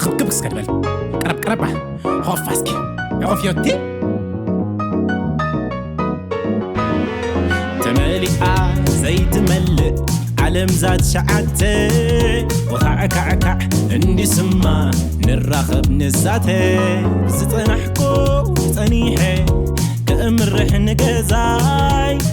ክብክብ እስከ ድበል ቀረብ ቀረብ ሆፋ እስኪ ኦፍዮቲ ተመሊኣ ዘይትመልእ ዓለም ዛት ሸዓተ ወኻዕካዕካዕ እንዲስማ ንራኸብ ንዛተ ዝጸናሕኮ ጸኒሐ ከእምርሕ ንገዛይ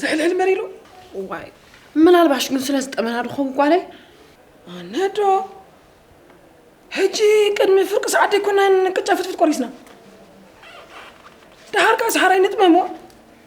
ዝሕልሕል መሪሉ ዋይ ምናልባሽ ግን ስለ ዝጠመና ድኸውን ጓለይ ኣነዶ ሕጂ ቅድሚ ፍርቂ ሰዓት ዘይኮናን ቅጫ ፍትፍት ቆሪስና ደሓር ከዓ ሰሓራይ ንጥመሞ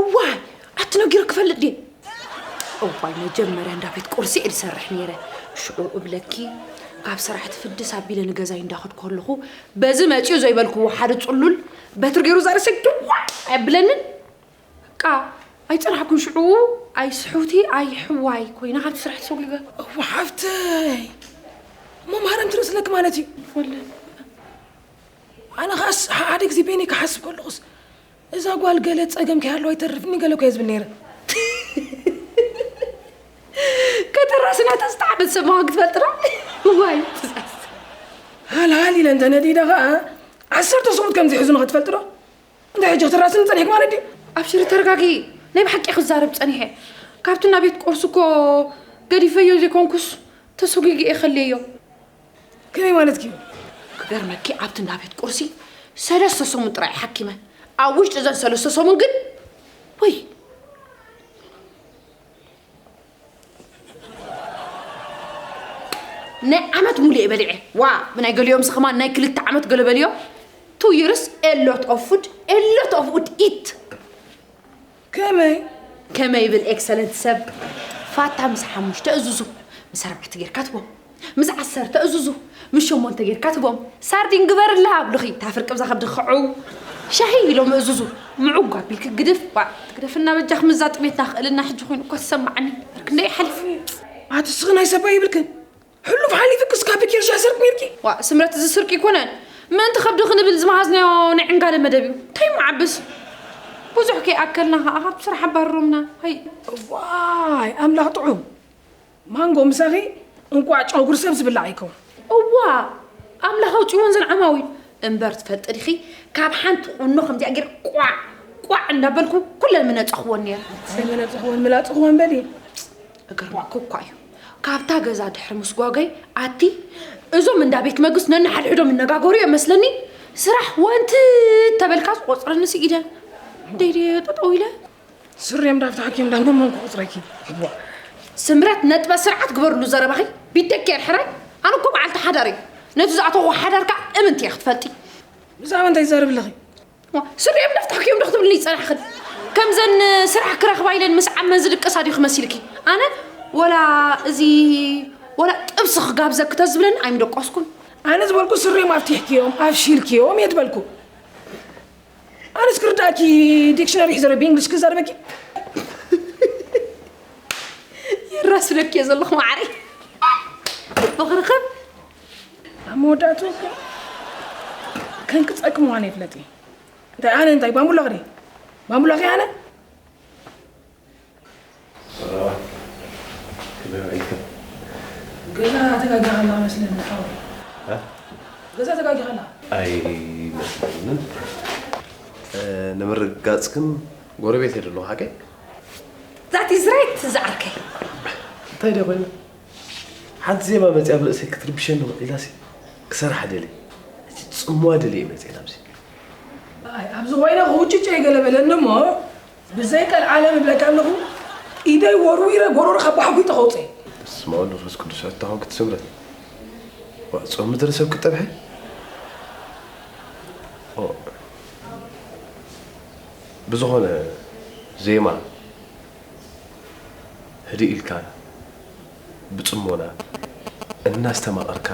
እዋይ ኣትነጊሩ ክፈልጥ ድየ እዋይ መጀመርያ እንዳ ቤት ቁርሲ እየ ዝሰርሕ ነይረ ሽዑ እብለኪ ካብ ስራሕ ትፍድስ ኣቢለ ንገዛይ እንዳኸድኩ ኣለኹ በዚ መፅኡ ዘይበልክዎ ሓደ ፅሉል በትሪ ገይሩ ዛርሰ ድዋ ኣየብለንን በቃ ኣይፀናሕኩን ሽዑ ኣይ ስሑቲ ኣይ ሕዋይ ኮይና ካብቲ ስራሕ ተሰጒገ እዋ ሓፍተይ መምሃረን ትርእስለኪ ማለት እዩ ይፈልጥ ኣነ ኸኣስ ሓደ ግዜ በይነይ ክሓስብ ከለኹስ እዛ ጓል ገለ ጸገም ከይሃለዋ ይተርፍኒ ገለ ኮየ ዝብል ነይረ ከተራስ ናታ ዝተዓበት ሰብ ምዃን ክትፈልጥና ዋይ ሃልሃል ኢለ እንተ ነዲደ ኸኣ ዓሰርተ ሰሙት ከም ዝሕዙ ንኸትፈልጥ ዶ እንታይ ሕጂ ክትራስኒ ጸኒሕክ ማለት ድዩ ኣብሽሪ ተረጋጊ ናይ ብሓቂ ክዛረብ ጸኒሐ ካብቲ ናብ ቤት ቆርሲ እኮ ገዲፈዮ ዘይኮንኩስ ተሰጒጊ እየ ከልየዮ ከመይ ማለት እዩ ክገርመኪ ኣብቲ እንዳ ቤት ቁርሲ ሰለስተ ሰሙን ጥራይ ሓኪመ ኣብ ውሽጢ እዘን ሰለስተ ሰሙን ግን ወይ ናይ ዓመት ሙሉ እየ በሊዐ ዋ ብናይ ገሊኦምስ ከማን ናይ ክልተ ዓመት ገለ በልዮ ቱ ይርስ ኤሎት ኦፍ ፉድ ኤሎት ኦፍ ኡድ ኢት ከመይ ከመይ ይብል ኤክሰለንት ሰብ ፋታ ምስ ሓሙሽተ እዙዙ ምስ ኣርባዕተ ጌርካ ትቦም ምስ ዓሰርተ እዙዙ ምስ ሸሞንተ ጌርካ ትቦም ሳርዲን ግበርላ ኣብልኺ እታ ፍርቂ ብዛ ከብዲ ክዕው ሻሂ ኢሎም እዙዙ ምዑግ ኣቢልኪ ግድፍ ዋ ትግደፍና በጃኽ ምዛ ጥሜትና ክእልና ሕጂ ኮይኑ እኳ ትሰማዓኒ ክንደይ ሓሊፉ ኣትስኺ ናይ ሰባ ይብልክን ሕሉፍ ሓሊፉ ክስካ ብኬሻ ስርቅ ኔርኪ። ዋእ ስምረት እዚ ስርቂ ኣይኮነን ምእንቲ ከብዲ ክንብል ዝመሃዝናዮ ናይ ዕንጋለ መደብ እዩ እንታይ ምዓብስ ብዙሕ ከይኣከልና ከኣ ካብ ስራሕ ኣባርሮምና ሃይ። እዋይ ኣምላኽ ጥዑም ማንጎ ምሳኺ እንቋዕ ጨጉሪ ሰብ ዝብላዕ ኣይከውን። እዋ ኣምላኽ ኣውጺእወን ዘን ዓማዊል እምበር ትፈልጢ ዲኺ ካብ ሓንቲ ቁኖ ከምዚኣ ጌር ቋዕ ቋዕ እንዳበልኩ ኩለን ምነጸኽወን ነይረ። ሰይ ምነጸኽወን ምላጽኽወን በሊ። ክገርመኩም እኳ እዩ ካብታ ገዛ ድሕሪ ምስጓገይ ኣቲ እዞም እንዳ ቤት መግስት ነንሓድሕዶም ይነጋገሩ እዮም መስለኒ ስራሕ ወንቲ ተበልካ ዝቆፅረኒ ስኢደ ደይደ ጠጠው ኢለ ስሬም ዳብ ተሓኪም ዳብ ደሞን ክቁፅረኪ ስምረት ነጥበ ስርዓት ግበርሉ ዘረባኺ ቢደኪ የርሕራይ ኣነ እኮ በዓልቲ ሓዳር እዩ ነቲ ዝኣተኹ ሓዳር ከዓ እምንቲ እየ ክትፈልጢ ብዛዕባ እንታይ ይዛረብ ኣለኺ ስሪኦም ነፍታሕኪኦም ዶ ክትብልኒ ዝጸናሕክን ከምዘን ስራሕ ክረኽባ ኢለን ምስ ዓመን ዝድቅሳ ድዩ ክመሲልኪ ኣነ ወላ እዚ ወላ ጥብሲ ክጋብዘኪ ተዝብለኒ ኣይምደቆስኩን ኣነ ዝበልኩ ስሪኦም ኣፍቲሕኪዮም ኣፍሺልኪዮም እየ ዝበልኩ ኣነስ ክርዳእኪ ዲክሽነሪ ሒዘረ ብእንግሊሽ ክዛረበኪ የራስለኪ እየ ዘለኹ ማዕረይ ፍቕርኽን ኣብ መወዳእትኡ ግን ከንኪ ጸግም ዋነ ይፍለጥ እዩ እንታይ ኣነ እንታይ ባምቡላኽ ድየ ባምቡላኽ ኣነ ገዛ ተጋጊኻ ኣላ መስለኒ ሓወይ ገዛ ተጋጊኻ ኣላ ኣይመስለንን ንምርግጋጽ ግን ጎረቤት የደለኹ ሓቀይ ዛት ኢዝ ራይት ዝዓርከይ እንታይ ደ ኮይኑ ሓንቲ ዜማ መፅያ ኣብ ርእሰይ ክትርብሸኒ ውዒላሲ ክሰርሓ ደልየ እቲ ፅምዋ ደልየ መፅየ ናብዚ ኣብዚ ኮይነ ክውጭጨይ ገለ በለኒ እሞ ብዘይ ቀልዓለም እብለካ ኣለኹ ኢደይ ወርዊረ ጎሮሮኻ ባሕጒጠ ከውፅእ በስመ ኣብ መንፈስ ቅዱስ ኣታ ኮንክቲ ስምረት ዋእ ጾም ምድሪ ሰብ ክትጠብሐ ብዝኾነ ዜማ ህድእ ኢልካ ብጽሞና እናስተማቐርካ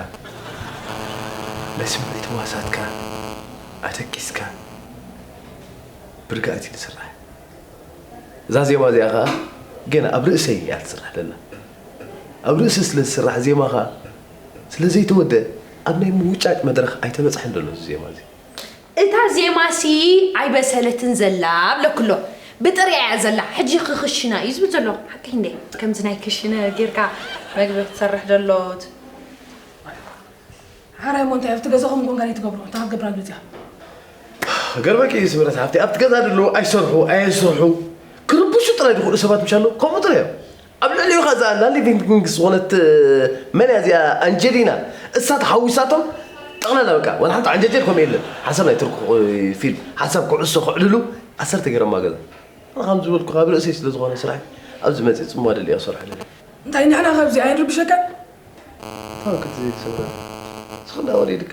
ናይ ስምዒት ህዋሳትካ ኣደቂስካ ብርግኣት እዩ ዝስራሕ። እዛ ዜማ እዚኣ ከኣ ገና ኣብ ርእሰይ እያ ትስራሕ ዘላ። ኣብ ርእሲ ስለ ዝስራሕ ዜማ ከኣ ስለ ዘይተወድአ ኣብ ናይ ምውጫጭ መድረኽ ኣይተበጽሐን ዘሎ እዚ ዜማ እዚ። እታ ዜማ ሲ ኣይበሰለትን ዘላ ብለኩ ኣሎ ብጥሪኣ እያ ዘላ ሕጂ ክክሽና እዩ ዝብል ዘሎ ሓቀይ እንዴ። ከምዚ ናይ ክሽነ ጌርካ መግቢ ክትሰርሕ ደሎት። ሓራይ እሞ እንታይ ኣብቲ ገዛኹም ኮንካ ዲዩ ትገብሮ እታ ክትገብራ መጺኣ። ክገርመኪ እዩ ስምረት ሓፍተይ ኣብቲ ገዛ ደለዉ ኣይሰርሑ ኣየስርሑ ክርብሹ ጥራይ ዝኽእሉ ሰባት ምሽ ኣለዉ ከምኡ ጥራይ እዮም። ኣብ ልዕሊኡ ከኣ እዛ ናንዲ ቪንግቪንግ ዝኾነት መን እያ እዚኣ ኣንጀሊና እሳ ተሓዊሳቶም ጠቕላላ በቃ ዋላ ሓንቲ ዓንጀጀል ከምኡ የለን ሓሳብ ናይ ትርኩ ፊልም ሓሳብ ኩዕሶ ከዕልሉ ዓሰርተ ገረማ ገዛ ኣነ ከም ዝበልኩ ካብ ርእሰይ ስለ ዝኾነ ስራሕ ኣብዚ መፅእ ፅምዋ ደሊያ ክሰርሖ ደለ እንታይ ንሕና ካብዚ ኣይንርብሸካን ታወክት ዘይትሰብረ ስኽና ወሊድካ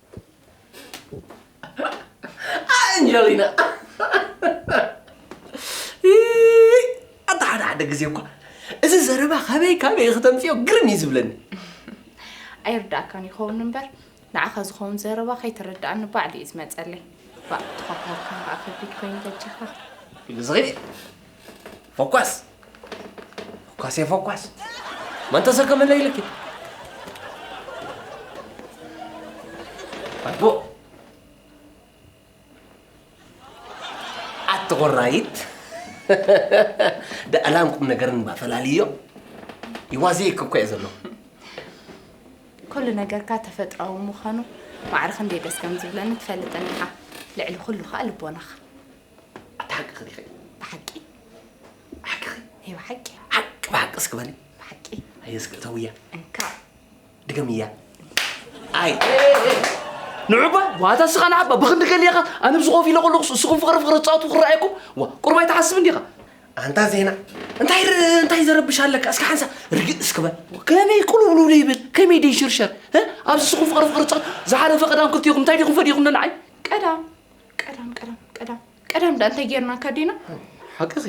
ኣንጀሊና ኣታ ሓደ ሓደ ግዜ እኳ እዚ ዘረባ ካበይ ካበይ ክተምፅዮ ግርም እዩ ዝብለኒ ኣይርዳእካን ይኸውን እምበር ንዓኻ ዝኸውን ዘረባ ከይተረዳእኒ ባዕሉ እዩ ዝመፀለይ ባእ ተኸታልካ ከዓ ከቢድ ኮይኑ በጃኻ ዝኺድ ፎኳስ ፎኳስ እየ ፎኳስ መን ተሰከመለይ ኢልኪ ኣቦ ኣቲ ቆራይት ደኣላን ቁም ነገርን እባ ፈላልዮ ይዋዘየኪ እኮ እየ ዘለኹ ኩሉ ነገርካ ተፈጥሯዊ ምዃኑ ማዕረ ክንደይ ደስ ከም ዝብለኒ ትፈልጠኒ ኢኻ ልዕሊ ኩሉ ከዓ ልቦናኻ ኣታ ሓቅኺ ዲኺ? ብሓቂ ሓቅኺ? ናይ ብሓቂ ሓቂ ብሓቂ እስኪ በሊ። ብሓቂ ኣየ እስኪ እተውያ እንካ ድገምያ። ኣይ ንዑባ ዋታ እስኻ ንዓባ ብክንዲ ገሊኻ ኣነ ብዚ ኮፍ ኢለ ከለኹ እስኹም ፍቕሪ ፍቕሪ ትፃወቱ ክረኣየኩም ዋ ቁርብ ኣይትሓስብ እንዲኻ ኣንታ ዜና እንታይ ር- እንታይ ዘረብሽ ኣለካ እስኪ ሓንሳ ርግእ እስኪ በል ከመይ ቁልውልውሉ ይብል ከመይ ደይ ሽርሸር እ? ኣብዚ እስኹም ፍቕሪ ፍቕሪ ትፃወቱ ዝሓለፈ ቀዳም ክልቲኹም እንታይ ዲኹም ፈዲኹም ንዓይ ቀዳም ቀዳም ቀዳም ቀዳም ቀዳም ዳ እንታይ ጌርናካ ዲና ሓቅኺ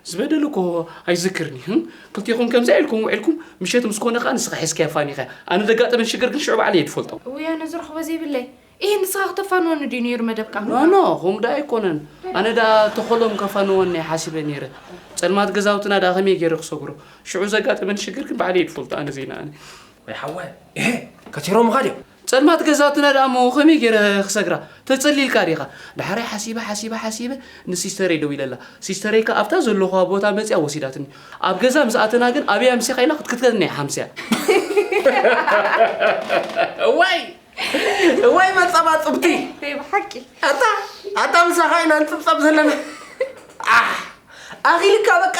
ዝበደሉ እኮ ኣይዝክርን እዩ ክልቲኹም ከምዚ ኢልኩም ውዒልኩም ምሸት ምስ ኮነ ከዓ ንስኻ ሒዝካያ ፋኒኻ ኣነ ዘጋጠመን ሽግር ግን ሽዑ ባዕለ እየ ዝፈልጦ ውይ ኣነ ዝረኽቦ ዘይብለይ ይህ ንስኻ ክተፋንወኒ ድዩ ነይሩ መደብካ ኖኖ ከምኡ ዳ ኣይኮነን ኣነ ዳ ተኸሎም ከፋንወኒ ሓሲበ ነይረ ፀልማት ገዛውትና ዳ ከመይ ገይረ ክሰግሮ ሽዑ ዘጋጠመን ሽግር ግን ባዕለ እየ ዝፈልጦ ኣነ ዘይነኣኒ ወይ ሓወ ከቲሮምኻ ድዮም ጸልማት ገዛትና ደኣ'ሞ ከመይ ጌረ ክሰግራ? ተጸሊ ኢልካ ዲኻ? ደሓራይ ሓሲበ ሓሲበ ሓሲበ ንሲስተረይ ደዊለላ። ሲስተረይ ከኣ ኣብታ ዘለኹዋ ቦታ መጺኣ ወሲዳትኒ። ኣብ ገዛ ምስ ኣተና ግን ኣበይ ኣምሲኻ ኢላ ክትክትከትኒ እያ ሓምሲያ። እዋይ እዋይ መጻባጽብቲ! ናይ ብሓቂ። ኣታ ኣታ ምሳኻ ኢና ንጽብጸብ ዘለና። ዓሕ! ኣኺልካ በቃ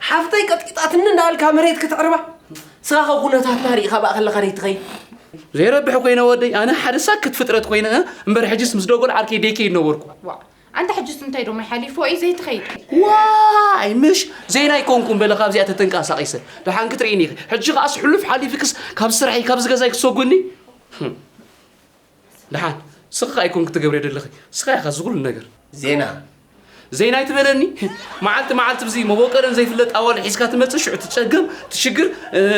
ሓፍተይ ቀጥቂጣትኒ እንዳበልካ መሬት ክትዕርባ። ንስኻ ከ ኩነታትና ርኢኻ በኣ ከለኻ ደይትኸይድ ዘይረብሕ ኮይነ ወደይ ኣነ ሓደ ሳክት ፍጥረት ኮይነ እምበር ሕጅስ ምስ ደጎል ዓርከይ ደይ ከይድ ነበርኩ ኣንታ ሕጅስ እንታይ ዶሞ ሓሊፎ እዩ ዘይትኸይድ ዋይ ምሽ ዘይና ኣይኮንኩም በለ ካብዚኣ ተተንቀሳቂሰ ደሓን ክትርእኒ ኢኺ ሕጂ ከዓስ ሕሉፍ ሓሊፍክስ ካብ ስራሕይ ካብ ዝገዛይ ክትሰጉኒ ደሓን ስኽኻ ኣይኮንክ ትገብርዮ ደለኺ ስኻ ኢኻ እዚ ኩሉ ነገር። ዜና ዜና ኣይትበለኒ መዓልቲ መዓልቲ ብዚ መቦቀለን ዘይፍለጥ ኣዋል ሒዝካ ትመጽእ ሽዑ ትጸገም ትሽግር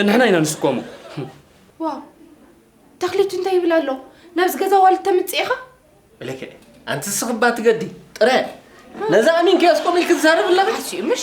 ንሕና ኢና ንስከሞ። ዋው ተኽሊቱ እንታይ ይብል ኣሎ ናብዚ ገዛ ዋልት ተምጽእ ኢኻ እለከ ኣንቲ ስኽባ ትገዲ ጥረ ነዛ ኣሚንኪ ኣስቆሚልኪ ትዛረብ ኣለኺ ሓሲኡ ምሽ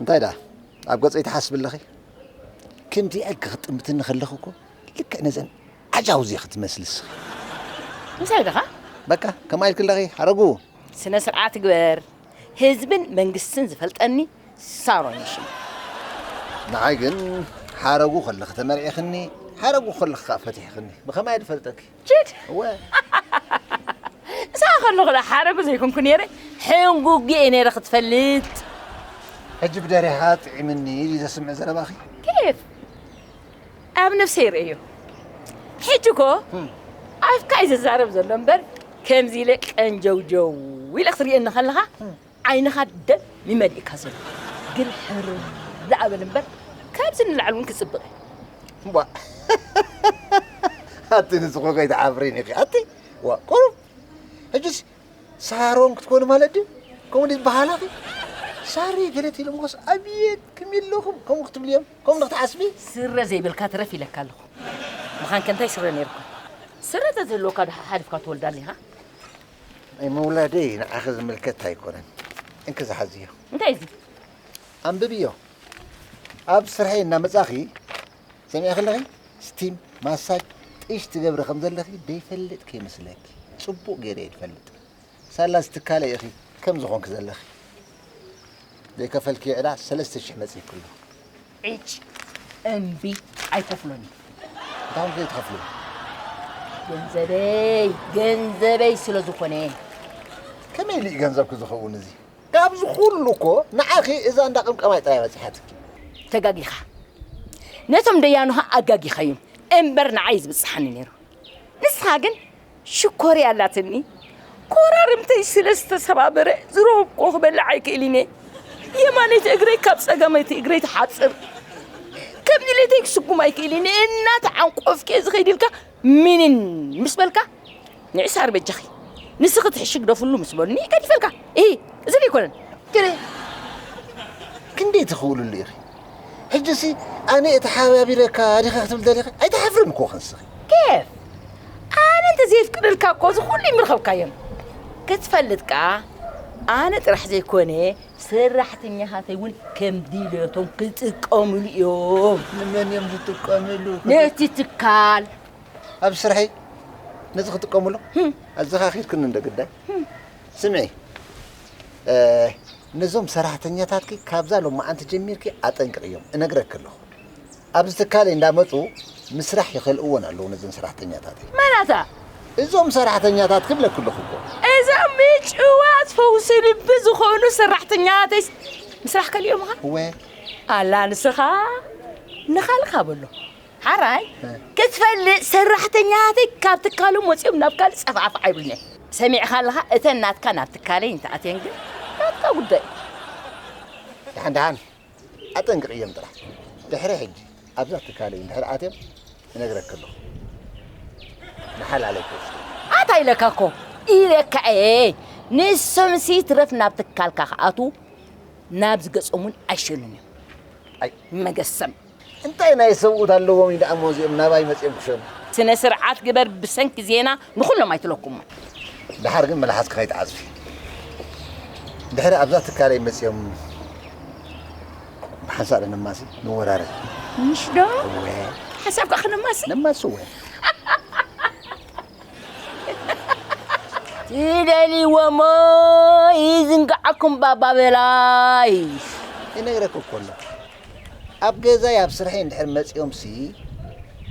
እንታይ ደኣ ኣብ ገጸይ ትሓስቢ ኣለኺ? ከምዚ ኢልኪ ክትጥምትኒ ከለኺ እኮ ልክዕ ነዘን ዓጃውዝ ኢኺ ትመስሊ ንስኺ። እንታይ ደኻ? በቃ ከምኣ ኢልኪ ኣለኺ ሓረጉ። ስነ ስርዓት ግበር፣ ህዝብን መንግስትን ዝፈልጠኒ ሳሮን እዩ ሽመይ። ንዓይ ግን ሓረጉ ከለኺ ተመርዒኽኒ፣ ሓረጉ ከለኺ ከኣ ፈቲሕኽኒ። ብኸመይ እየ ዝፈልጠኪ? ጅድ እሳ ከለኹ ዶ ሓረጉ ዘይኮንኩ ነይረ ሕንጉግ እየ ነይረ ክትፈልጥ ሕጂ ብደሪኻ ጥዒምኒ እዩ ዘስምዕ ዘረባኺ ኬፍ ኣብ ነፍሰ ይርእዮ ሕጂ እኮ ኣፍካ እዩ ዝዛረብ ዘሎ እምበር ከምዚ ኢለ ቀንጀውጀው ኢለ ክትርእየኒ ከለኻ ዓይንኻ ደም እዩ መሊእካ ዘሎ ግን ሕርር ኣበል እምበር ካብዚ ንላዕሊ እውን ክፅብቕ እዩ ቧእ ኣቲ ንስኹ ከይትዓፍሪን ኢኺ ኣቲ ዋ ቁሩብ ሕጅስ ሳሮን ክትኮኑ ማለት ድዩ ከምኡ ድዩ ዝበሃላኺ ሳሪ ገለት ኢሎምኸስ ኣብየት ክም ኣለኹም ከምኡ ክትብሉ እዮም ከምኡ ዶ ክትሓስቢ ስረ ዘይብልካ ትረፍ ኢለካ ኣለኹ ምኻን ከ እንታይ ስረ ነይሩካ ስረ ተዝህልወካ ዶ ሓሓሊፍካ ትወልዳ ኣሊኻ ምውላደይ ንዓኺ ዝምልከት ኣይኮነን። እንኪ ዝሓዝዮ። እንታይ እዚ? ኣንብብዮ። ኣብ ስርሐይ እናመጻኺ ሰሚዕኺ ኣለኺ? ስቲም ማሳጅ ጥሽ ትገብሪ ከም ዘለኺ ደይፈልጥ ከይመስለኪ ጽቡቕ ገይረ እየ ዝፈልጥ። ሳላ ዝትካለ ኢኺ ከም ዝኾንኪ ዘለኺ። ዘይከፈልክዮ ዕዳ ሰለስተ ሽሕ መጺእኪ ኣሎ። ዒጭ እምቢ ኣይከፍሎን እዩ እንታይ እንታይ ትኸፍሉ ገንዘበይ ገንዘበይ ስለ ዝኾነ ከመይ ኢሉ እዩ ገንዘብኪ ዝኸውን እዚ ካብዚ ኩሉ እኮ ንዓኺ እዛ እንዳ ቅምቀማይ ጥራይ በፂሓትኪ ተጋጊኻ ነቶም ደያኑኻ ኣጋጊኻዮም እምበር ንዓይ ዝበፅሓኒ ነይሩ ንስኻ ግን ሽኮርያ ኣላትኒ ኮራርምተይ ስለ ዝተሰባበረ ዝረኸብኩዎ ክበልዕ ኣይክእልን እየ የማነይቲ እግረይ ካብ ፀጋመይቲ እግረይ ትሓፅር ከም ድሌተይ ክስጉም ኣይክእልን እየ እናተዓንቆፍኪ እየ ዝኸይድ ኢልካ ምንን ምስ በልካ ንዕሳር በጃኺ ንስኺ ትሕሺ ግደፍሉ ምስ በሉኒ ገዲፈልካ እ እዚ ዘይኮነን ክንደይ ትኽእልሉ ኢኺ ሕጂሲ ኣነ እተሓባቢረካ ዲኻ ክትብል ደሊኻ ኣይትሓፍርን እኮ ክንስኺ ኬፍ ኣነ እንተዘየፍቅደልካ እኮ እዚ ኩሉ ይምረኸብካዮም ክትፈልጥ ከኣ ኣነ ጥራሕ ዘይኮነ ሰራሕተኛታተይ እውን ከም ድልዮቶም ክጥቀምሉ እዮም ንመን እዮም ዝጥቀምሉ ነቲ ትካል ኣብ ስርሐይ ነዚ ክጥቀምሉ ኣዘኻኺርክኒ እንደ ግዳይ ስምዒ ነዞም ሰራሕተኛታትኪ ካብዛ ሎማዓንቲ ጀሚርኪ ኣጠንቅቕዮም እነግረኪ ኣለኹ። ኣብዚ ትካለይ እንዳመፁ ምስራሕ ይኸልእዎን ኣለዉ ነዘን ሰራሕተኛታተይ። መን ኣታ? እዞም ሰራሕተኛታትኪ እብለኪ ኣለኹ እኮ። እዞም ምጭዋት ፈውሲ ልቢ ዝኾኑ ሰራሕተኛተይስ ምስራሕ ከሊኦምኻ? እወ። ኣላ ንስኻ ንኻልካ በሎ። ሓራይ ክትፈልጥ ሰራሕተኛታተይ ካብ ትካሎም ወፂኦም ናብ ካልእ ፀፋዕፋዕ ኣይብሉን እዮም ሰሚዕኻ ኣለኻ እተን ናትካ ናብ ትካለይ እንተኣትየን ግን ናትካ ጉዳይ ደሓን ደሓን ኣጠንቅቕዮም ጥራሕ ድሕሪ ሕጂ ኣብዛ ትካለይ እንድሕር ኣትዮም እነግረክ ኣለኹ ንሓላለይ ክወስዱ ኣታ ኢለካ እኮ ኢለካ እየ ንሶም ሲ ትረፍ ናብ ትካልካ ክኣትዉ ናብ ዝገጾም እውን ኣይሸኑን እዮም ኣይ መገሰም እንታይ ናይ ሰብኡት ኣለዎም እዩ ደኣሞ እዚኦም ናባይ መጺኦም ክሸኑ። ስነ ስርዓት ግበር ብሰንኪ ዜና ንኹሎም ኣይትለኩሞም። ደሓር ግን መልሓስኪ ከይትዓጽፊ። ድሕሪ ኣብዛ ትካለይ መጺኦም ብሓንሳእ ዶ ነማሲ ንወራረድ። ምሽ ዶ? እወ። ሓሳብካ ክነማሲ? ነማሲ እወ። ትደልይዎሞ ይዝንግዓኩም ባባ በላይ። ይነግረኪ እኮ ኣሎ ኣብ ገዛይ ኣብ ስርሐይ እንድሕር መጺኦምሲ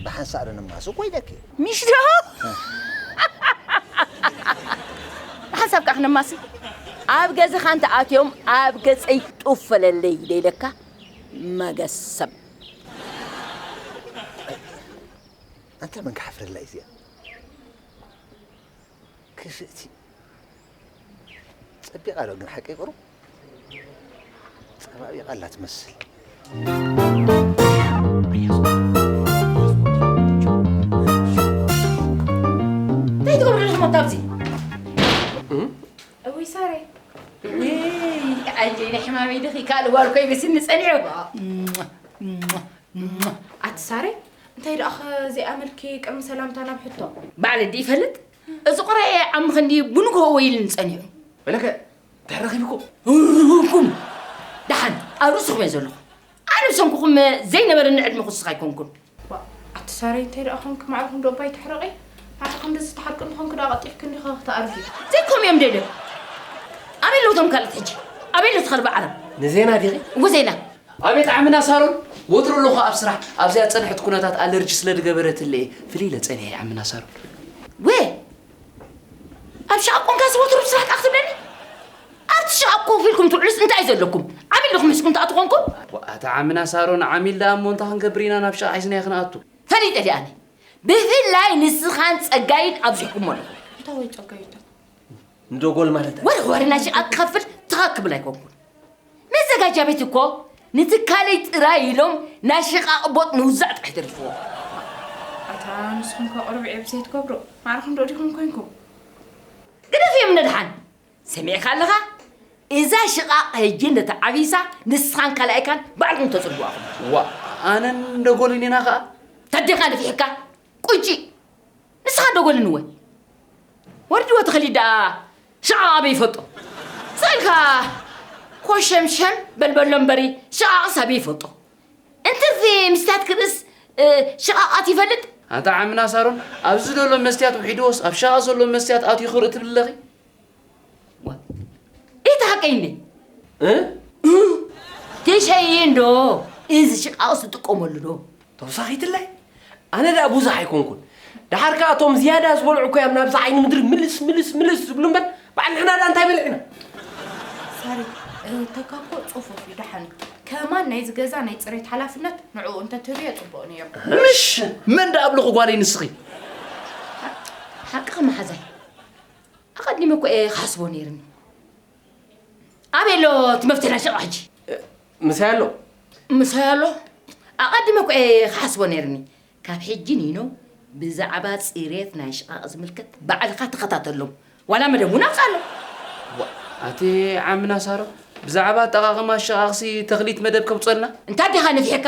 ብሓንሳእ ዶ ንማሱ እኮ ኢለኪ። ሚሽ ዶ ብሓንሳብ ከኣ ክንማሲ ኣብ ገዛኻ እንተ ኣትዮም ኣብ ገጸይ ጡፍ በለለይ ዶ ኢለካ መገሰብ። ኣንታ መን ክሓፍረላ እዩ እዚኣ ክፍእቲ። ጸቢቓ ዶ ግን ሓቂ ይቕሩ ጸባቢቓ ኣላ ትመስል እንታይ ትገብሩ ኣለኹም ኣታ ኣብዚ እውይ ሳሬ ኣጀይ ናይ ሕማመይ ድኺ ካልእ ጓል ኮይ ብስኒ ጸኒዑ ኣቲ ሳሬ እንታይ ደኣ ከ ዘይኣመልኪ ቅድሚ ሰላምታ ናብ ሕቶ ባዕለ ዲ ይፈልጥ እዚ ቁራየ ዓሚ ክንዲ ብንግሆ ወይ ኢሉኒ ጸኒሑ። በለከ ድሕሪ ረኺብኩም እርርርኩም ደሓን ኣብ ርእስኹም እየ ዘለኹ ኣነ ብሰንኩኹም ዘይነበረኒ ዕድመ ክውስኽ ኣይኮንኩን። ዋእ ኣቲ ሳረይ እንታይ ደኣ ኮንኪ ማዕርኹም ዶ እባ ኣይትሕረቒ ንዓኺ ክንድዚ ትሓርቂ እንተኾንኪ ደኣ ቐልጢፍኪ እንዲኺ ክትኣርጊ። ዘይኮም እዮም ደደብ ኣበይ ኣለዉ እቶም ካልኦት ሕጂ ኣበይ ኣሎ እቲ ከልቢ ዓረብ። ንዜና ዲኺ? እወ ዜና። ኣቤት ዓምና ሳሮን ወትሩ ኣለኹ ኣብ ስራሕ ኣብዚኣ ዝጸንሐት ኩነታት ኣለርጂ ስለ ዝገበረትለይ እየ ፍልይ ኢለ ጸኒሐ ዓምና ሳሮን ወ ኣብ ሸቓ ኮንካስ ወትሩ ኣብ ስራሕ ጣ ክትብለኒ ኣብቲ ሸቓ ኮፍ ኢልኩም ትውዕሉስ እንታይ እዩ ዘለኩም ዓሚል ዲኹም ሕዝኩም ትኣቱ ኮንኩም ዋኣታ ዓምና ሳሮን ዓሚል ደኣ እሞ እንታይ ክንገብር ኢና ናብ ሸቓ ሒዝናዮ ክንኣቱ ፈሊጠ ዲኣ ኣነ ብፍላይ ንስኻን ጸጋይን ኣብዚሕኩሞ ኣለኹም እንታይ ወይ ጸጋይታ ንደጎል ማለት ወርወርና ሸቓ ክኸፍል ትኻ ክብል ኣይኮንኩን መዘጋጃ ቤት እኮ ንትካለይ ጥራይ ኢሎም ናይ ሽቓቕ ቦጥ ምውዛዕ ጥራሕ ተሪፍዎም። ኣታ ንስኹም ከ ቅሩብ ዒብ ዘይትገብሩ ማዕርኹም ዶ ዲኹም ኮንኩም። ግደፍዮም ንድሓን ሰሚዕካ ኣለኻ እዛ ሽቓቕ ሕጂ እንደ ተዓቢሳ ንስኻን ካላኣይካን ባዕልኩም ተጽልዉዋ ኢኹም። ዋእ ኣነን ደጎልን ኢና ከኣ። ተዴኻ ንፊሕካ ቁጭ ንስኻ ደጎልን እወ ወርድዎ ተኸሊድ ደኣ ሽዓቕ ኣበይ ይፈልጦ ስእልካ ኮሸምሸም በልበሎ እምበሪ ሽቓቕስ ኣበይ ይፈልጦ እንትርፊ ምስትያት ክርእስ ሽቓቓት ይፈልጥ ኣንታ ዓምና ሳሮን ኣብዚ ዘሎ መስትያት ውሒድዎስ ኣብ ሸቓቕ ዘሎ መስትያት ኣትዩ ክርኢ ትብሊ ኣለኺ ኢቲ ሓቀይ እንዴ ትሸይን ዶ እዚ ሽቃውስ ዝጥቀመሉ ዶ ተወሳኺትላይ ኣነ ደኣ ብዙሕ ኣይኮንኩን ደሓር ከዓ እቶም ዝያዳ ዝበልዑ እኮ እዮም ናብዚ ዓይኒ ምድሪ ምልስ ምልስ ምልስ ዝብሉ እምበር በዓል ንሕና ደኣ እንታይ በልዕና ሳሪ እህተካ እኮ ፅፉፍ እዩ ደሓን እዩ ከማን ናይ ዝገዛ ናይ ፅሬት ሓላፍነት ንዕኡ እንተትህብዮ ፅቡቅ ነይሩ ምሽ መን ደኣ ኣብልኹ ጓለይ ንስኺ ሓቅኻ መሓዛይ ኣቐዲመ እኮ እየ ክሓስቦ ነይርኒ። ኣበይ ኣሎ እቲ መፍትሒ ናይ ሸቃ ሕጂ? ምሳይ ኣሎ። ምሳይ ኣሎ? ኣቐዲመ እኮ እየ ክሓስቦ ነይርኒ። ካብ ሕጂ ኒኖ ብዛዕባ ጽሬት ናይ ሽቓቕ ዝምልከት ባዕልኻ ተኸታተሎ። ዋላ መደብ እውን ኣውጽኣሎ። ኣቲ ዓሚ ናሳሮ ብዛዕባ ኣጠቓቕማ ሽቓቕሲ ተኽሊት መደብ ከውጽኣልና? እንታይ ዲኻ ነፊሕካ?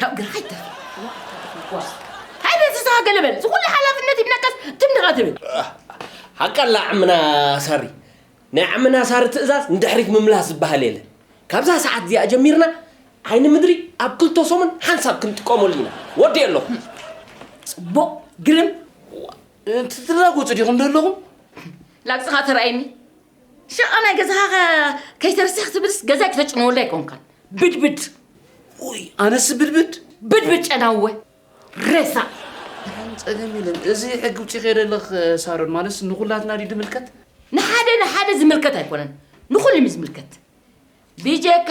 ካብ ግራይ ተር ሃይለ ዝስሃ ገለ በል ዝኩሉ ሓላፍነት ይብነቀስ ትምድኻ ትብል ሓቃላ ዓምና ሳሪ ናይ ዓምና ሳሪ ትእዛዝ ንድሕሪት ምምላስ ዝበሃል የለ ካብዛ ሰዓት እዚኣ ጀሚርና ዓይኒ ምድሪ ኣብ ክልተ ሰሙን ሓንሳብ ክንጥቀመሉ ኢና ወዲእ ኣለኹ ፅቡቕ ግርም ትራጎፁ ዲኹም ደለኹም ላግፅኻ ተረኣይኒ ሸቃ ናይ ገዛኻ ከይተርስሕ ክትብልስ ገዛይ ክተጭንወሉ ኣይኮንካን ብድብድ ውይ ኣነስ ብድብድ ብድብድ ጨናወ ሬሳ ፀገም የለን እዚ ሕጊ ውጭ ከደለኽ ሳሮን ማለስ ንኩላትና ድዩ ድምልከት ንሓደ ንሓደ ዝምልከት ኣይኮነን ንኩሉም ዝምልከት ብጀካ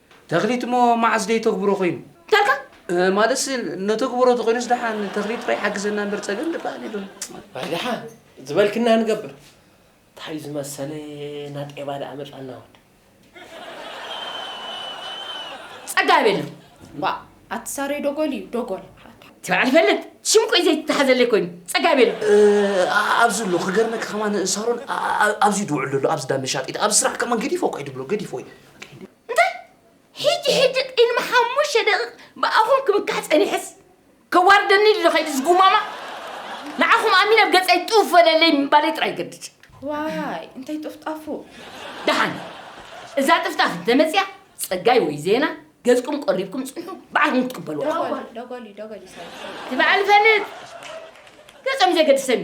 ተኽሊት እሞ መዓስ ደይተግብሮ ኮይኑ? እንታይ ኣልካ? ማለትሲ ነተግብሮ ተኾይኑስ ደሓን ንተኽሊት ጥራይ ሓግዘና እምበር ጸገም ድበሃል የሎን። በርደሓን ዝበልክና ንገብር። ታይ ዝመሰለ ናጤባ ደኣ መጻና ወድ። ጸጋብ የለን ዋእ ኣቲ ሳሬ ዶጎል እዩ ዶጎል። እቲ በዓል ይፈልጥ ሽም ቆይ ዘይተታሓዘለይ ኮይኑ ጸጋብ የለን። ኣብዚ ኣሎ ክገርመኪ ከማን ሳሮን ኣብዚ ድውዕል ኣሎ ኣብዚ ዳመሻጢት ኣብዚ ስራሕ ከማን ገዲፎ እኳ እዩ ድብሎ ገዲፎ እዩ። እንታይ ሕጂ ሕጂ ቅድሚ ሓሙሽተ ደቂቕ ብኣኹም ክምካሕ ጸኒሐስ ከዋርደኒ ድዶ ከይዲ ዝጉማማ ንዓኹም ኣሚነ ኣብ ገጸይ ጡፍ በለለይ ምባለይ ጥራይ ይገድድ ዋይ እንታይ ጥፍጣፉ ደሓን እዛ ጥፍጣፍ እንተመፅያ ጸጋይ ወይ ዜና ገጽኩም ቆሪብኩም ጽንሑ በዓልኩም ክትቅበሉ ደጎሊ ደጎሊ ደጎሊ ሰ ትበዓል ፈልጥ ገጾም ዘገድሰኒ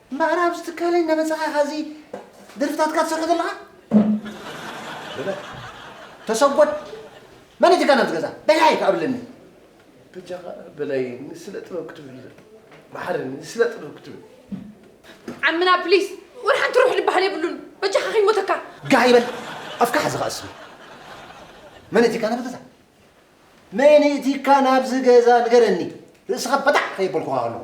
እምበኣር ኣብዚ ትካለይ እናመጻኻ ኢኻ እዚ ደርፍታትካ ትሰርሖ ዘለኻ? በለ። ተሰጎድ መን እዩ እቲ ጋና ኣብዚ ገዛ? በላይ ከ ኣብለኒ። በጃኻ በላይ ንስለ ጥበብ ክትብል መሓረኒ ንስለ ጥበብ ክትብል ዓምና ፕሊስ ወላ ሓንቲ ሩሕ ዝበሃል የብሉን በጃኻ ከይሞተካ ጋህ ይበል ኣፍካ ሓዚ ከኣ ስሚ መን እቲ ካና ብገዛ መን እቲ ካና ኣብዚ ገዛ ንገረኒ ርእስኻ በጣዕ ከየበልኩኻ ከለኹ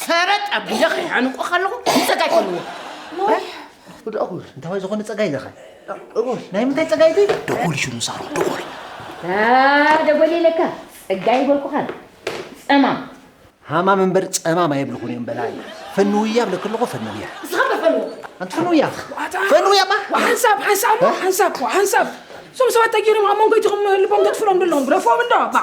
ሰረጥ ኣቢለ ከይሓንቆ ከለኹ ንፀጋይ ከልዎ ወዲ እኹል እንታዋይ ዝኾነ ፀጋይ ዘኸ እኹል ናይ ምንታይ ፀጋይ ዚ ደጎሊ ሽኑ ሳሩ ደጎሊ ደጎሊ ኢለካ ፀጋይ ይበልኩኻ ፀማም ሃማም እምበር ፀማም ኣይብልኹን እዮም በላይ ፈንውያ ብለክ ኣለኹ ፈንውያ ንስኻ በፈንዎ ኣንቲ ፈንውያ ፈንውያ ማ ሓንሳብ ሓንሳብ ሓንሳብ ሓንሳብ እዞም ሰባት ተጊሮም ኣብ መንጎ ይትኹም ልቦም ተጥፍሎም ደለኹም ረፎም እንዶ ባ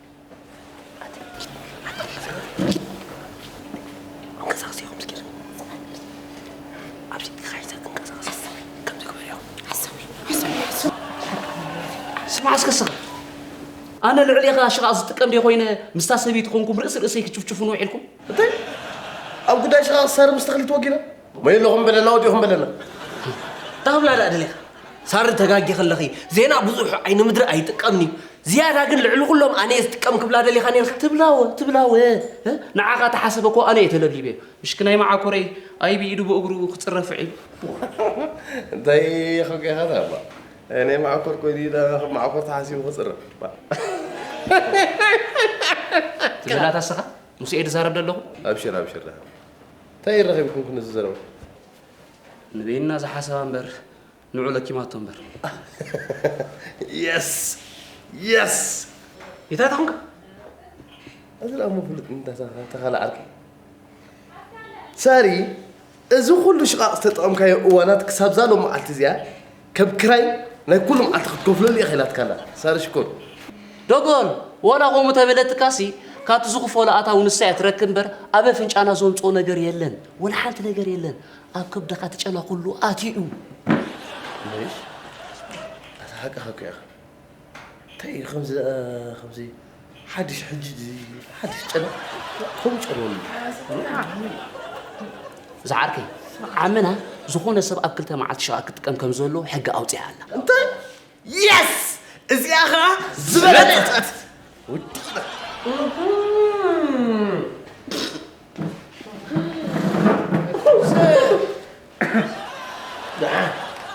ስማዕ እስከ ስኽ ኣነ ልዕሌኻ ሽቓቕ ዝጥቀም ደ ኮይነ ምስታ ሰበይቲ ኮንኩም ርእሲ ርእሰይ ክጭፍጭፉን ውዒልኩም እንታይ ኣብ ጉዳይ ሽቓቕ ሰር ምስ ተኽሊ ተወጊነ ወይ ኣለኹም በለና ወዲኹም በለና ዳብላ ዳኣ ደሊኻ ሳሪ ተጋጊ ከለኺ ዜና ብዙሕ ዓይኒ ምድሪ ኣይጥቀምኒ ዝያዳ ግን ልዕሊ ኩሎም ኣነ ዝጥቀም ክብላ ደሊኻ ነርካ ትብላወ ትብላወ ንዓኻ ተሓሰበ እኮ ኣነ የተለሊበ ምሽክ ናይ መዓኮረይ ኣይ ብኢዱ ብእግሩ ክፅረፍ ዒሉ እንታይ ኸገኻ ዳባ እኔ መዓኮር ኮይኑ ዳ መዓኮር ተሓሲቡ ክፅረፍ ትብላ ታስኻ ምስ ኤድ ዛረብ ደለኹ ኣብሽር ኣብሽር እንታይ ይራኺብኩም ክንዚ ዘረባ ንበይንና ዝሓሰባ እምበር ንዑ ለኪማቶ እምበር የስ የስ እንታይ ተኾንካ እዚ ላሞ ፍሉጥ እንተተኸለ ዓርኪ ሳሪ እዚ ኩሉ ሽቓቕ ዝተጠቐምካዮ እዋናት ክሳብዛ ሎም መዓልቲ እዚኣ ከብ ክራይ ናይ ኩሉ መዓልቲ ክትከፍለሉ ኢኻ ኢላትካላ ሳሪ ሽኮር። ዶጎን ወላ ኮሙ ተበለትካሲ ካብቲ ዝኽፈሎ ኣታዊ ንሳ እያ ትረክብ እምበር ኣብ ኣፍንጫና ዘምጽኦ ነገር የለን ወላ ሓንቲ ነገር የለን ኣብ ከብድኻ እቲ ጨና ኩሉ ኣትዩ እዩ። ኣታ ሓቅኻ እኮ ኢኻ እንታይ እዩ ከምዚ ከምዚ ሓድሽ ሕጂ ሓድሽ ጨና ከምኡ ጨንወሉ ዝዓርከይ ዓመና ዝኾነ ሰብ ኣብ ክልተ መዓልቲ ሸቓ ክጥቀም ከም ዘሎ ሕጊ ኣውፂኣ ኣላ እንታይ የስ እዚኣ ኸዓ ዝበለጠት ውዲና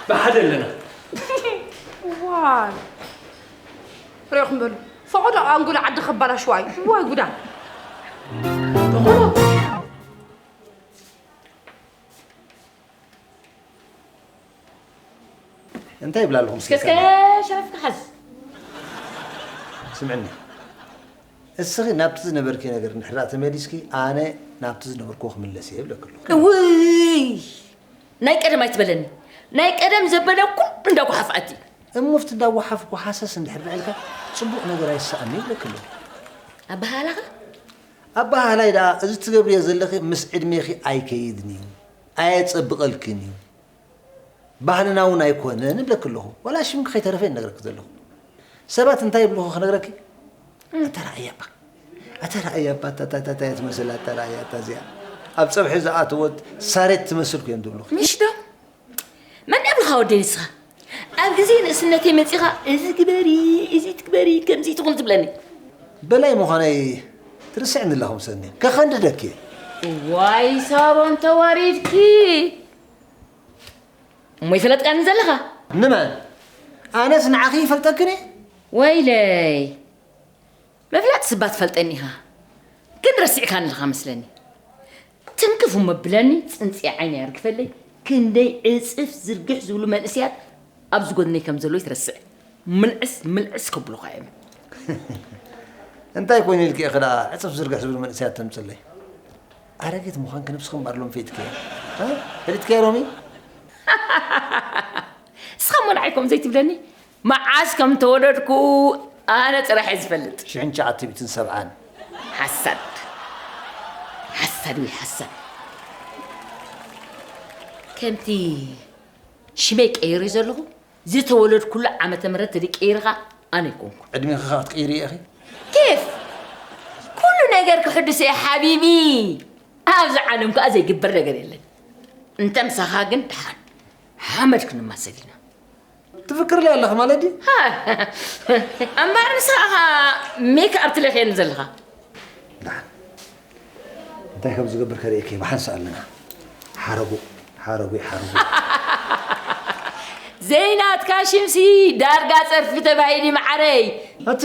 ብሓደ ኣለና ዋይ ሪኢኹም በሉ ፈቐዶ ኣንጎሎ ዓዲ ከባላሽዋ እዩ ዋይ ጉዳ እንታይ ይብላ ኣለኹም እስከ ሸረፍካ ሓዝ ስምዕኒ እስኺ ናብቲ ዝነበርኪ ነገር ንሕራእ ተመሊስኪ ኣነ ናብቲ ዝነበርክዎ ክምለስ እየ ይብለክ ኣለኹ እውይ ናይ ቀደም ኣይትበለኒ ናይ ቀደም ዘበለ ኩሉ እንዳ ጓሓፍ ኣቲ እሙፍቲ እንዳ ጓሓፍ ጓሓሰስ እንድሕር በልካ ጽቡቕ ነገር ኣይሰኣኒ ይብለኪ ኣሎ ኣበሃላኻ ኣበሃላይ ደኣ እዚ ትገብርዮ ዘለኺ ምስ ዕድሜኺ ኣይከይድን እዩ ኣየጸብቐልክን እዩ ባህልና እውን ኣይኮነን እብለኪ ኣለኹ ዋላ ሽምኪ ከይተረፈ እነግረኪ ዘለኹ ሰባት እንታይ ይብልኹ ክነግረኪ እንተ ረኣያ እባ ኣታ ረኣያ እባ ኣታ ኣታ ኣታ እያ ትመስል ኣታ ረኣያ ኣታ እዚኣ ኣብ ፀብሒ ዝኣተወት ሳሬት ትመስል ኩ እዮም ዝብሉ ምሽ ዶ መን ኣብልኻ ወደይ ንስኻ ኣብ ግዜ ንእስነተይ መፂኻ እዚ ግበሪ እዚ ትግበሪ ከምዚ ትኹን ዝብለኒ በላይ ምዃነይ ትርስዕኒ ኣለኹም ሰኒ ከኸንድደኪ እየ ዋይ ሳሮን ተዋሪድኪ እሞ ይፈለጥካኒ ዘለኻ ንመን ኣነስ ንዓኺ ይፈልጠክን እየ ወይለይ መፍለጥ ስባ ትፈልጠኒ ኢኻ ግን ረሲዕካኒ ኣለኻ መስለኒ ትንክፍ እሞ ብለኒ ፅንፂ ዓይነ ያርግፈለይ ክንደይ ዕፅፍ ዝርግሕ ዝብሉ መንእስያት ኣብዚ ጎድነይ ከም ዘለዉ ይትረስዕ ምልዕስ ምልዕስ ከብሉኻ እዮም እንታይ ኮይኑ ኢልክ ኢኺ ደኣ ዕፅፍ ዝርግሕ ዝብሉ መንእስያት ተምፅለይ ኣረጊት ምዃን ክንብሲ ክምባርሎም ፈይትከ ፈሊጥከ ሮሚ እስኻ ሞናዓይ ከምኡ ዘይትብለኒ መዓስ ከም ተወለድኩ ኣነ ጥራሕ እየ ዝፈልጥ። ሽሕን ትሽዓተ ሚእትን ሰብዓን። ሓሳድ ሓሳድ እየ ሓሳድ። ከምቲ ሽመይ ቀይሬ ዘለኹ ዝተወለድኩሉ ዓመተ ምህረት ተድይ ቀይርኻ ኣነ ኣይኮንኩን። ዕድሜኺ ከ ክትቅይርዮ ኢኺ። ኬፍ ኩሉ ነገር ክሕድሶ እየ ሓቢቢ። ኣብዚ ዓለም ከኣ ዘይግበር ነገር የለን። እንተ ምሳኻ ግን ደሓን ሓመድ ክንማሰል ኢና። ትፍክርለ ኣለኺ ማለት ድዩ? እምበኣር ንስኻ ኢኻ ሜክ ኣብ ትለኽየኒ ዘለኻ። ደሓን እንታይ ከም ዝገብር ከርእየኪ ብሓንሳ ኣለና። ሓረጉ ሓረጉ ሓረጉ ዘይናትካ ሽምሲ ዳርጋ ጸርፊ ተባሂሊ መዓረይ። እቲ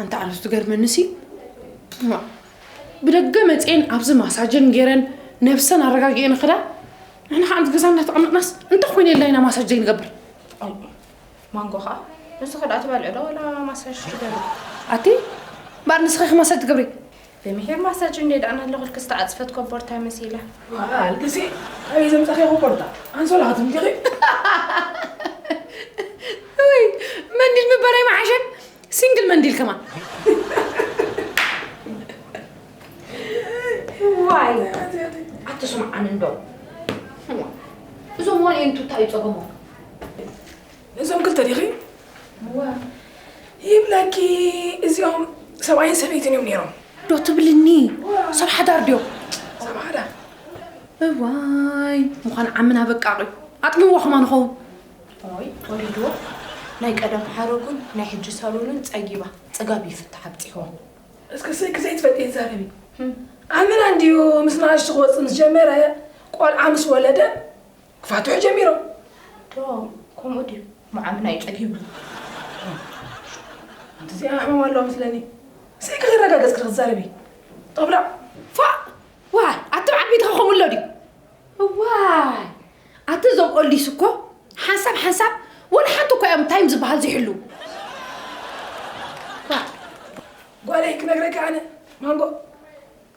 ኣንታ ኣነስ ትገርመኒ ሲ ብደገ መፅኤን ኣብዚ ማሳጀን ገይረን ነብሰን ኣረጋጊኤን ክዳ ንሕና ከዓ ገዛ እናተቐመጥናስ እንታይ ኮይነ የላ ኢና ማሳጅ ዘይንገብር ማንጎ ከዓ ንሱ ክዳ ትበልዕ ዶ ወላ ማሳጅ ትገብር ኣቲ እምበር ንስኺ ማሳጅ ትገብሪ ብምሒር ማሳጅ እንዴ ዳኣ ናለኹልኪ ዝተዓጽፈት ኮቦርታ መሲላ። ኣል ግዜ ካበይ ዘምጻኺዮ ኮቦርታ ኣንሶላ ክትምጢኺ። እውይ መንዲል ምበር ኣይምሓሸ ሲንግል መንዲል ከማን። ዋይ ኣትስምዓን እንዶ እዞም ዋልኤን ቱታ እዩ ጸገሞም። እዞም ክልተ ዲኺ እወ ይብለኪ እዚኦም ሰብኣይን ሰበይትን እዮም ነይሮም ዶ ትብልኒ ሰብ ሓዳር ድዮም ሰብ ሓዳር እዋይ ምዃን ዓምና በቃቂ ኣጥሚዋ ኹማ ንኸውን ኦይ ወሪድዎ ናይ ቀደም ሓረጉን ናይ ሕጂ ሳሎንን ጸጊባ ጽጋብ ይፍታሕ ኣብጺሕዎ እስኪ ስእኪ ዘይትፈልጢ ይዛረቢ ኣመና እንድዩ ምስ ናእሽቱ ክወጽእ ምስ ጀመረ ቆልዓ ምስ ወለደ ክፋትሑ ጀሚሮም ዶ ከምኡ ድዩ መዓምና እዩ ጸጊቡ ኣንቲ እዚኣ ሕመም ኣለዋ መስለኒ እስኪ ከተረጋገጽ ክትዛረቢ ጦብላዕ ፋእ ዋይ ኣቲ በዓል ቤትኻ ከምኡ ኣሎ ድዩ እዋይ ኣቲ እዞም ኦልዲስ እኮ ሓንሳብ ሓንሳብ ወላ ሓንቲ እኮ እዮም ታይም ዝበሃል ዝሕሉ ጓለይ ክነግረካ ኣነ ማንጎ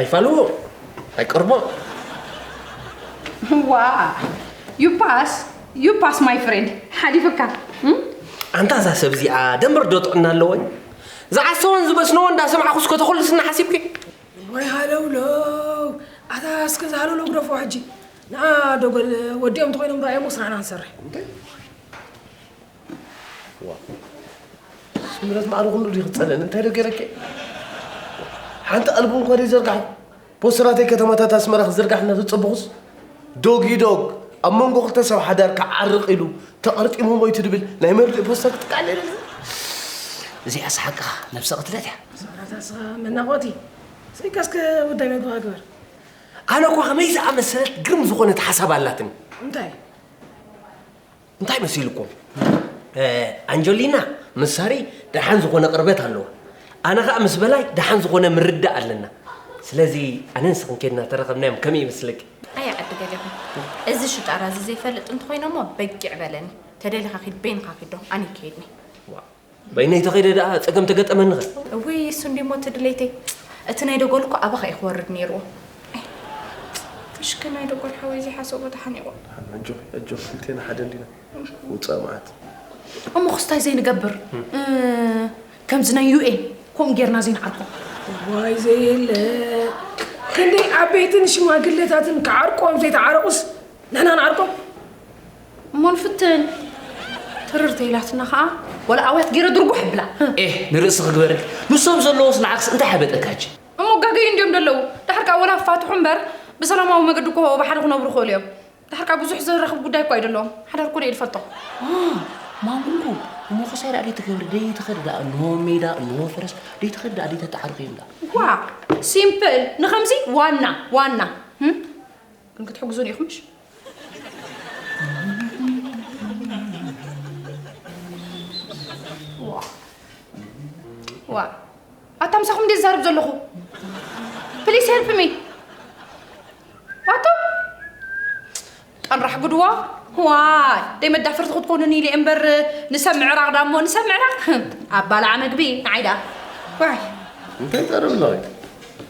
ኣይፋልዎ ኣይቀርቦ ዋ ዩፓስ ዩፓስ ማይ ፍሬንድ ሓሊፍካ ኣንታ እዛ ሰብ እዚኣ ደምር ዶ ጥዕና ኣለወን ዝዓሰወን ዝበስነዎ እንዳሰምዓኹ እስከ ተኹልስና ሓሲብኪ ወይ ሃለውለው ኣታ እስከ ዝሃለውለው ግደፎ ሕጂ ንኣ ዶገል ወዲኦም ተኮይኖም ዶ ኣየሞ ስራሕና ንሰርሕ ስምረት ማዕረ ኩሉ ድዩ ክፀልእን እንታይ ዶ ገይረኪ ሓንቲ ኣልቡ እንኳ ዘይዘርጋሕ ፖስተራተይ ከተማታት ኣስመራ ክዝርጋሕ እናተፀበኹስ ዶግ ይዶግ ኣብ መንጎ ክልተ ሰብ ሓዳር ክዓርቕ ኢሉ ተቐርጢሙ ሞይቱ ድብል ናይ መርድእ ፖስተር ክትቃለ እዚኣ ስሓቅኻ ነብሰ ቅትለት እያ ስምረት ኣስኻ መናቆቲ ስሪካስከ ውዳይ መግባኻ ግበር ኣነ እኳ ከመይ ዝኣመሰለት ግርም ዝኾነት ሓሳብ ኣላትኒ እንታይ እንታይ መሲልኩም ኣንጀሊና ምስ ሳሪ ደሓን ዝኾነ ቅርበት ኣለዋ ኣነ ከዓ ምስ በላይ ደሓን ዝኾነ ምርዳእ ኣለና ስለዚ ኣነ ንስኽን ኬድና ተረኸብናዮም ከመይ ይመስለኪ ኣይ ዓዲ ገሌኹ እዚ ሽጣራ እዚ ዘይፈልጥ እንተኾይኖሞ በጊዕ በለኒ ተደሊኻ ኪድ በይንኻ ኪዶ ኣነ ይከይድኒ በይነይ ተኸይደ ደኣ ጸገም ተገጠመኒኸ እውይ እሱ እንዲሞ እቲ ድሌተይ እቲ ናይ ደጎል እኮ ኣባኻ እዩ ክወርድ ነይርዎ እሽከ ናይ ደጎል ሓወይ ዘይሓሰቦ ተሓኒቑ ኣጆኺ ኣጆኺ ክልቴና ሓደ እንዲና ውፃእ መዓት እሞ ክስታይ ዘይንገብር ከምዚ ናይ ዩኤን ከምኡ ጌርና ዘይንዓርቆ ዋይ ዘየለ ክንደይ ዓበይትን ሽማግለታትን ክዓርቆም ዘይተዓረቑስ ንሕና ንዓርቆም እሞ ንፍትን ትርር ተይላትና ኸኣ ወላ ኣውያት ገይረ ድርጉሕ ኣብላ ኤህ ንርእሲ ክግበረልኪ ንሶም ዘለዎስ ንዓክስ እንታይ ሓበጠካጂ። እሞ ጋገዩ እንድዮም ደለዉ ደሓር ከኣ ወላ ክፋትሑ እምበር ብሰላማዊ መገዲ እኮ ብሓደ ክነብሩ ይኽእሉ እዮም ደሓር ከኣ ብዙሕ ዘራኽብ ጉዳይ እኳ ኣይደለዎም ሓዳር እኮ ደየ ድፈልጦ። ማ ማሙንኩ እሞ ክሳይ ደኣ ደይትገብሪ ደይትኸዲ ደኣ እንሆ ሜዳ እንሆ ፈረስ ደይትኸዲ ደኣ ደይተተዓርቁ እዮም ደኣ። ዋ ሲምፕል ንኸምዚ ዋና ዋና ግን ክትሕግዙኒ ኢኹም እሺ። ዋ ኣታ ምሳኹም ድየ ዝዛርብ ዘለኹ ፕሊስ ሄልፕ ሚ ኣቶ ቀንራሕ ጉድዋ ዋይ ደይ መዳፈርቲ ክትኮኑኒ ኢለ እምበር ንሰብ ምዕራቕ ዳሞ ንሰብ ምዕራቕ ኣባላዓ መግቢ ንዓይ ደኣ እንታይ ጠርብ ኣለኺ